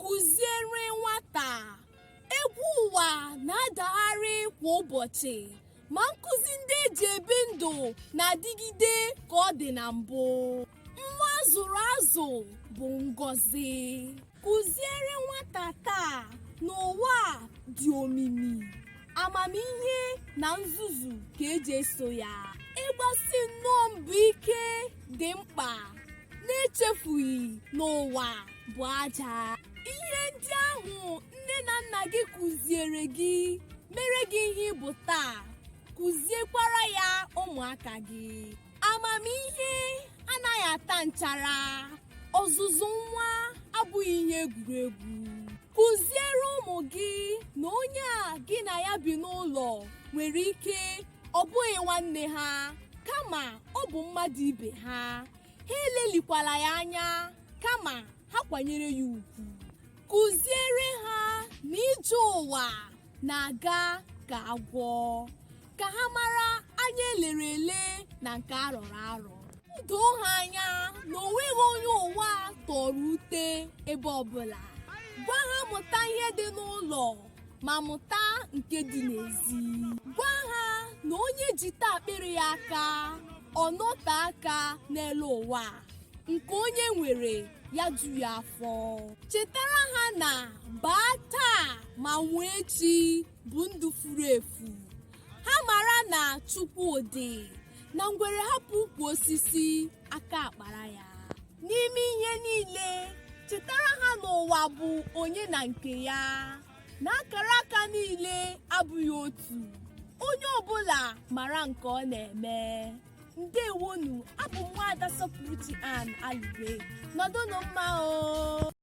kụziere nwata egwu ụwa na-adagharị kwa ụbọchị ma nkụzi ndị eji ebi ndụ na-adịgide ka ọ dị na mbụ nwa zụrụ azụ bụ ngọzi kụziere nwata taa n'ụwa a dị omimi amamihe na nzuzu ka eji eso ya ịgbasi nnọọ mbọ ike dị mkpa n'echefughị na ụwa bụ aja ihe ndị ahụ nne na nna gị kụziere gị mere gị ihe ị bụ taa kụziekwara ya ụmụaka gị amamihe anaghị ata nchara ọzụzụ nwa abụghị ihe egwuregwu kụziere ụmụ gị na onye a gị na ya bi n'ụlọ nwere ike ọ bụghị nwanne ha kama ọ bụ mmadụ ibe ha ha elelikwala ya anya kama ha kwanyere ya ugwu kụziere ha na ije ụwa na-aga ka agwọ ka ha mara anya elere ele na nke arọrọ arọ doo ha anya na o nweghị onye ụwa a tọrọ ute ebe ọbụla gwa ha mụta ihe dị n'ụlọ ma mụta nke dị n'ezi gwa ha na onye jite akpịrị ya aka ọ nọte aka n'elu ụwa a. nke onye nwere ya ju ya afọ chetara ha na baa taa ma nwụọ echi bụ ndụ furu efu ha mara na chukwu dị na ngwere hapụ ukwu osisi aka akpara ya n'ime ihe niile chetara ha na ụwa bụ onye na nke ya na akara aka niile abụghị otu onye ọbụla mara nke ọ na-eme ndewonụ abụ m nwaada sọpụrụchi ann aligwe nọdụnụ mma o